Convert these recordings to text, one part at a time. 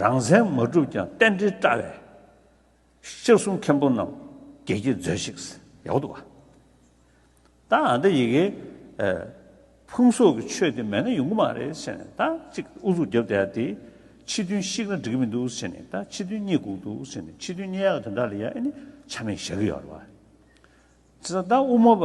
རང་མཚན་མ་གྲུབ་ཀྱང་རྟེན་འབྲེལ་བཀྲ་བའི། ཤྲཱི་གསུང་མཁན་པོ་རྣམས་དགྱེས་ཀྱིས་མཛོད་ཤིག། ཡག་པོ་འདུག་ག། ད་འདི་ཡི་གེ། ཕུང་སོགས་ཀྱི་ཆོས་དེ་མེད་ན་ཡོང་གི་མ་རེད་ཟེར་ནས་ད་གཅིག་ཨུ་ཚུགས་བརྒྱབ་བསྡད་དེ། ཕྱི་དོན་བཤིག་ན་འགྲིག་གི་མི་འདུག་ཟེར་ནས་ད་ཕྱི་དོན་རྙེད་སྒུག་འདུག་ཟེར་ནས་ཕྱི་དོན་རྙེད་ཡག་དེ་འདྲ་ལ་ཡང་ཨེ་ནི་ཆ་མེད་བཞག་གི་ཡོད་རེད་བ། ད་དབུ་མ་པ།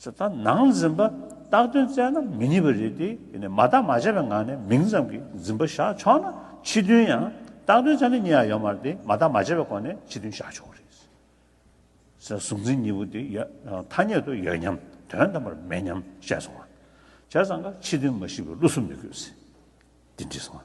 ཚེ་དང་ནང་འཛིན་པ་རྟགས་དོན་བཙལ་ན་མི་རྙེད་པ་རེད་དེ། དེ་ནས་མ་བརྟག་མ་དཔྱད་པའི་ངང་ནས་མིང་ཙམ་གྱི་འཛིན་པ་བཞག་ཆོག་ན་ཕྱི་དོན་ཡང་རྟགས་དོན་ཆ་ནས་གཉིས་ཡང་ཡོད་མ་རེད་དེ་མ་བརྟག་མ་དཔྱད་པའི་སྒོ་ནས་ཕྱི་དོན་བཞག་ཆོག་རེད། ཚེ་དང་གཟུང་འཛིན་གཉིས་པོ་དེ་ཐ་སྙད་དུ་ཡོད་སྙམ་དོན་དམ་པར་མེད་སྙམ་བཤད་སོང་བ། བྱས་ཙང་ཀ་ཕྱི་དོན་མ་ཤེས་པའི་བློ་གཟུ་མི་དགོས་ཟེར། འདི་འདྲི་སོང།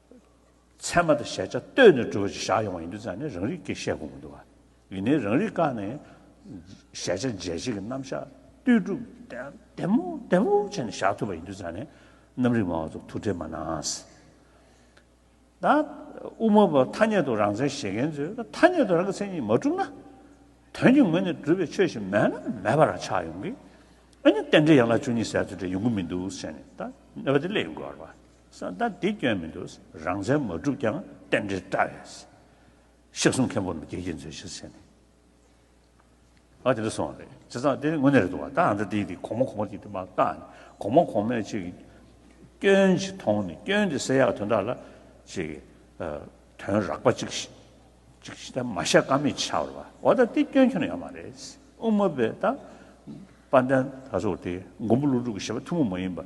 ཚད་མ་དང་གཞལ་བྱ་ལྟོས་ནས་གྲུབ་པ་ཞིག་བཞག་ཡོང་བ་ཡིན་དུས་ཙང་ནས་རང་རིག་གེ་བཤད་དགོས་མི་འདུག་ག་ཡིན་ནའི་རང་རིག་བཀག་ནས་གཞལ་བྱ་འཇལ་བྱེད་ཀྱི་རྣམ་གཞག་ལྟོས་གྲུབ་བདེ་མོ་བདེ་མོ་བྱས་ནས་བཞག་ཐུབ་པ་ཡིན་དུས་ཙང་ནས་རྣམ་རིག་མང་བ་ཚོ་ཐུགས་ཁྲལ་མ་གནང། ད་དབུ་མ་པ་ཐ་སྙད་དུ་རང་མཚན་བཞེད་མཁན་ཚོས་ཐ་སྙད་དུ་རང་གི་མཚན་ཉིད་མ་གྲུབ་ན། དོན་གྱི་ངོས་ནས་གྲུབ་པའི་ཆོས་ཞིག་མེད་ན་མེད་པ་རང་ཆགས་ཡོང་གི། ཨ་ནི་རྟེན་འབྲེལ་ཡན་ལག་བཅུ་གཉིས་ཟེར་ཚུལ་དེ་ཡོང་གི་མི་འདུག་བཤད་ནས་ད་གནས་པ་དེ་སླེབས་ཡོང་དགོས་པ་རེད། ས་མཐའ་འདི་སྐྱོན་མི་འདུག་རང་བཙན་མ་བསྒྲུབས་ཀྱང་རྟེན་འབྲེལ་བཀྲ་བས། ཤི་གསོན་མཁན་པོ་རྣམས་རྒྱལ་གྱིས་མཛོད་གཞིར་བྱས་ནས། ཨ་དེ་འདྲ་སོང་བ་རེད་སྤྱི་ཚགས་དེ་དངོས་གནས་རེད་འདུག་བ་ད་ཨ་འདྲ་དེ་དེ་གོང་མ་གོང་མ་ཅིག་དེ་མ་བཀག་ནས་གོང་མ་གོང་མས་ཅིག་སྐྱོན་ཅིག་མཐོང་ནས་སྐྱོན་དེ་སེལ་ཡག་དོན་དག་ལ་ཅིག་དོན་རག་པ་ཅིག་ཅིག་ཅིག་མ་བཤད་ཀ་མེད་ཆགས་རོ་བ་ད་དེ་སྐྱོན་ཁྱོན་ཡང་མ་རེད་དབུ་མ་པས་ད་དཔལ་ལྡན་ད་ཚོར་དེ་མགོན་པོ་ཀླུ་སྒྲུབ་ཀྱི་བཞེད་པ་ཐུན་མོང་མ་ཡིན་པ།